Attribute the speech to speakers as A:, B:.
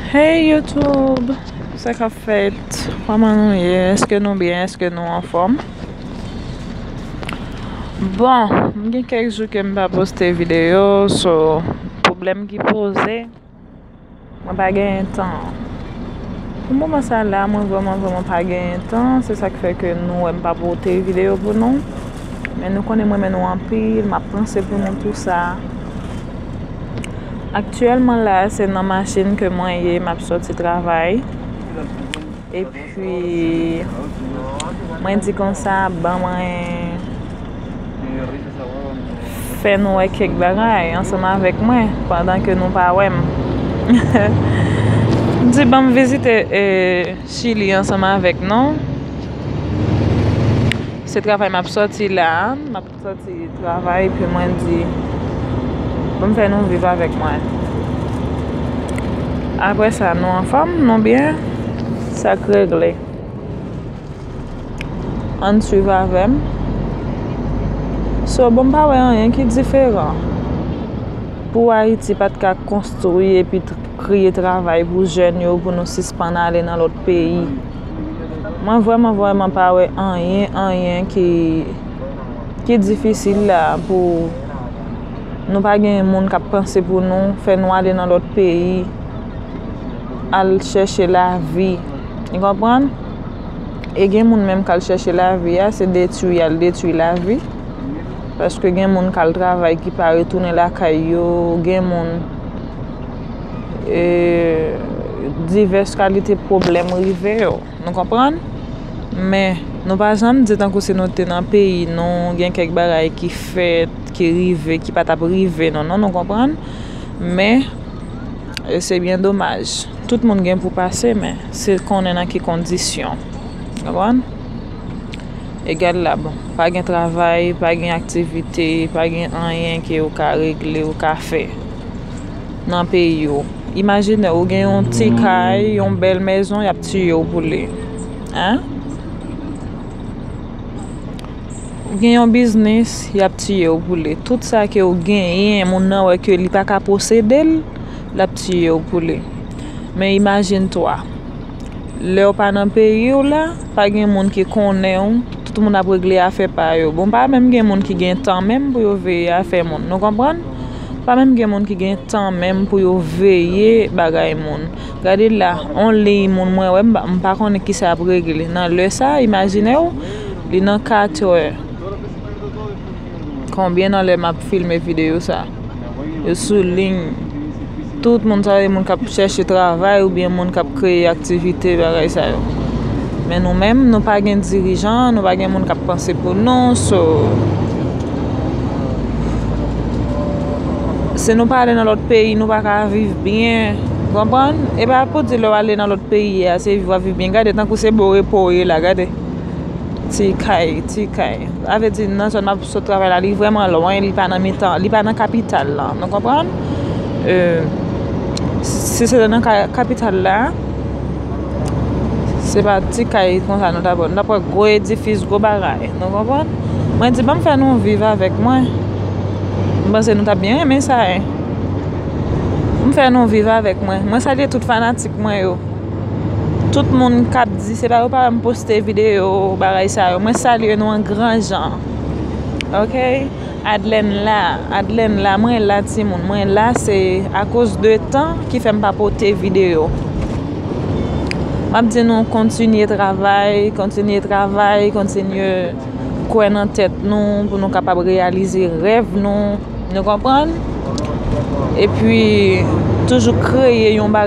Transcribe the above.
A: Hey YouTube, sa kap fèt? Kòman nou ye? Eske nou byen? Eske nou anfòm? Bon, m gen kèk jou ke m pa poste videyo, so, pwoblèm ki poze, mwen pa genyen tan. Pou moman sa la, mwen vrèman vrèman pa genyen tan, se sa k fè ke nou wè m pa pote videyo pou nou. Men nou konnen m renmen nou anpil, m ap panse pou nou tou sa. Aktyèlman la a, se nan machin ke mwen ye, m ap soti travay. E pi, mwen di kon sa, ban mwen fè nou wè kèk bagay ansanm avèk mwen pandan ke nou pa wè m. M di ban m vizite Chili ansanm avèk nou. Se travay m ap sòti la a. M ap sòti travay epi mwen di pou m fè nou viv avèk mwen. Apre sa, nou anfòm? Nou byen? Sa k regle? Ann suiv avè m. So, bon m pa wè anyen ki diferan pou Ayiti pa t ka konstwi epi kreye travay pou jèn yo pou nou sispann ale nan lòt peyi. Mwen vrèman vrèman pa wè anyen anyen ki ki difisil la pou nou pa gen moun kap panse pou nou, fè nou ale nan lòt peyi al chèche lavi ou konprann? E gen moun menm kal chèche lavi a se detui yal detui lavi paske gen moun kal travay ki pa retounen lakay yo gen moun divès kalite pwoblèm rive yo. Nou konprann? Men, nou pa janm di tankou si nou te nan peyi nou, gen kèk bagay ki fèt, ki rive, ki pa t ap rive nou. Non, nou konprann? Men, se byen domaj. Tout moun gen pou pase men, se konnen nan ki kondisyon. Nou konprann? E gad la bon, pa gen travay, pa gen aktivite, pa gen anyen ke ou ka regle, ou ka fè. nan peyi w imajine ou gen yon ti kay yon bèl mezon yap tiye w pou li hein ou gen yon biznis yap tiye w pou li tout sa ke ou genyen moun nan wè ke li paka posede l lap tiye w pou li men imajine toi lè ou pa nan peyi w la pa gen moun ki konnen w tout moun ap regle afè pa yo bon pa menm gen moun ki gen tan menm pou yo veye afè moun nou konprann Pa menm gen moun ki gen tan menm pou yo veye bagay moun. Gade la, on liy moun mwen wè m pa konnen kisa y ap regle nan lè sa a, imajine w, li nan katrè. Konbyen nan lè m ap filme videyo sa a? Yo sou liy. Tout moun sa yo e moun k ap chèche travay oubyen moun k ap kreye aktivite bagay sa yo. Men nou menm nou pa gen dirijan, nou pa gen moun k ap panse pou nou so si nou pa ale nan lòt peyi nou pa ka viv byen ou konprann. E pa pou di lè w ale nan lòt peyi a se viv w ap viv byen gade tankou se bon repo w ye la gade ti kay ti kay sa vle di nan zòn m ap sot travay la li vrèman lwen li pa nan mitan li pa nan kapital la nou konprann. Si se te nan kapital la, se pa ti kay konsa nou ta pran. Nou ta pran gwo edifis, gwo bagay. Nou konprann? Mwen di banm fè nou viv avèk mwen. M panse nou ta byen renmen sa. M fè nou viv avèk mwen. Mwen salye tout fanatik mwen yo. Tout moun k ap di se pa yo pa wè m poste videyo bagay sa yo. Mwen salye nou an gran jan. Ok? Adlène la Adlène la mwen la timoun mwen la se akoz de tan ki fèm pa pote video map di nou kontinye travay kontinye travay kontinye kwè nan tèt nou pou nou kapab reyalize rèv nou nou konprann epi toujou kreye yon bagay